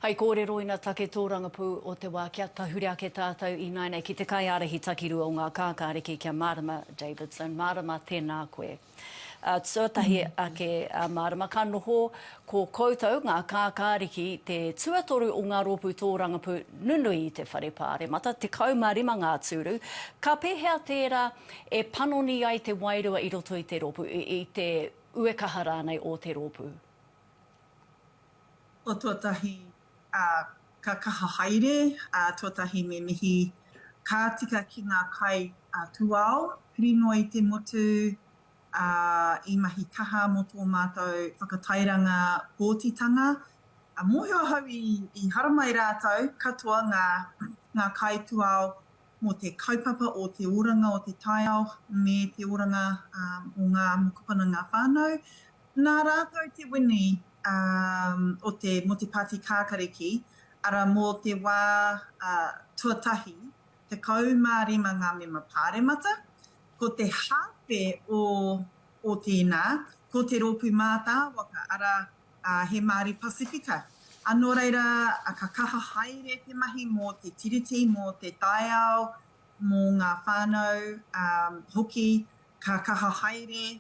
Hai kōrero ina take tōrangapū o te wā kia tahure ake tātou ināinei ki te kaiārahi takirua o ngā kākāriki kia mārama Davidson mārama tēnā koe tuatahi ake mārama ka noho ko koutou ngā kākāriki te tuatoru o ngā rōpū tōrangapū nunui i te whare pāremata 15 ngā tūru ka pēhea tērā e panoni ai te wairua i roto i te rōpū i te uekaha rānei o te rōpū. O tuatahi, ka kaha haere, tuatahi me mihi, ka tika ki ngā kai a Tuao, Pirinoi te motu, ā, i mahi kaha mō tō mātou whakatairanga pōtitanga. Mōhio ahau i haramai rātou katoa ngā kai Tuao mō te kaupapa o te oranga o te taiao me te oranga o ngā mokopuna ngā whānau, nā rātou te wini o te mō te Pāti Kākariki, arā mō te wā tuatahi, 15 ngā mema Pāremata, ko te hāwhe o tēnā, ko te rōpū mātāwaka, arā, ā, he Māori Pasifika. Ā, nō reira, ka kaha haere te mahi mō te tiriti, mō te taiao, mō ngā whānau, ā, hoki, ka kaha haere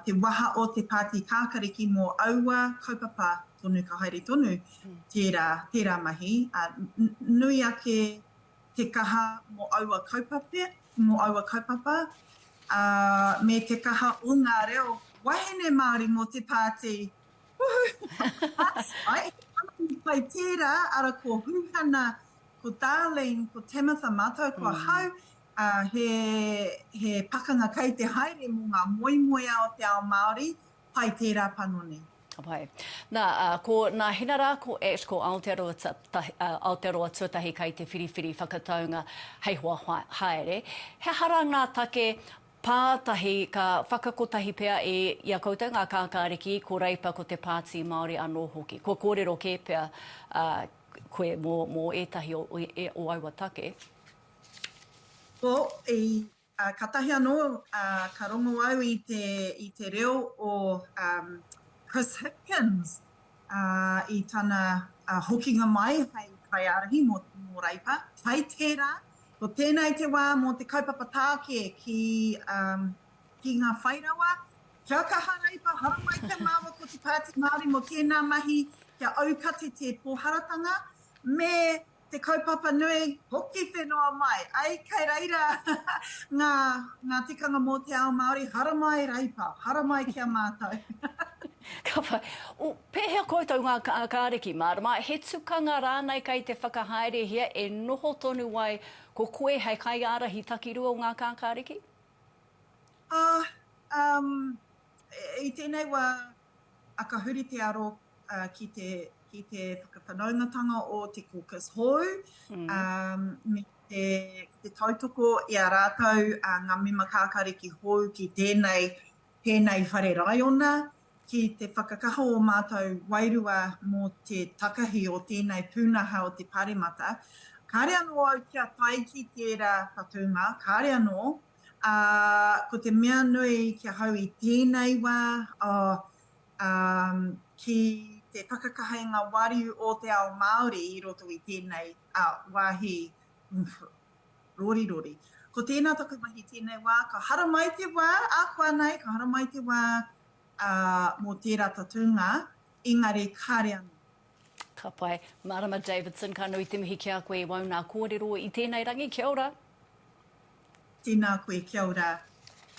te waha o te Pāti Kākariki mō aua kaupapa tonu, ka haere tonu tērā, tērā mahi, ā, nui ake te kaha mō aua kaupapa, mō aua kaupapa, ā, me te kaha o ngā reo wahine Māori mō te pāti. Woohoo! Ai, he panoni pai tērā, ara ko Huhana, ko Darlene, ko Tamitha mātou ko ahau, ā, he, he pakanga kei te haere mō ngā moemoeā o te ao Māori, Pai tērā panoni. Pai. Nā, ā, ko nā Hina rā, ko Ash, ko Aotearoa ta, ta, ā, Aotearoa Tuatahi kai te whiriwhiri whakataunga hei hoa haere. He aha rā ngā take pātahi ka whakakotahi pea i, i a koutou ngā kākāriki, ko Reipa, ko te Pāti Māori anō hoki? Kua kōrero kē pea ā, koe mō, mō ētahi o, o, o aua take? Well, i, Katahi anō ka rongo au i te reo o Chris Hipkins i tana hokinga mai hei kaiārahi mō Reipa. Kai tērā, ko tēnei te wā mō te kaupapa tāke ki ngā whai rawa, kia kaha Reipa, haramai kia mārō ko te Pāti Māori mō tēnā mahi kia aukati te pōharatanga me Te kaupapa nui, hoki whenua mai, ai kei reira ngā, ngā tikanga mō te ao Māori, haramai Reipa, haramai ki a mātou. Ka whai, o, pēhea koutou ngā ka, kāriki, mārama, he tukanga rānei kei te whakahaerehia e noho tonu ai ko koe hei kaiārahi takirua o ngā ka kāriki? Ah, um, i tēnei wā, A ka huri te aro ki te ki te whakawhanaungatanga o te caucus hou, ā, me te, te tautoko i a rātou ngā mema kākāriki hou ki tēnei, tēnei whare raiona, ki te whakakaha o mātou wairua mō te takahi o tēnei pūnaha o te Pāremata. Kāre anō au kia tae ki tērā whatunga, kāre anō, Ā, ko te mea nui ki ahau i tēnei wā, oh, ā, ki te whakakaha i ngā wāriu o te ao Māori i roto i tēnei, ā, wāhi, umph, rorirori. Ko tēnā taku mahi tēnei wā, ka haramai te wā, ahakoa nei, ka haramai te wā, ā, mō tērā tatūnga, engari kāre anō. Ka pai. Marama Davidson, ka nui te mihi ki a koe i wau nā kōrero i tēnei rangi. Kia ora. Tēnā koe, kia ora.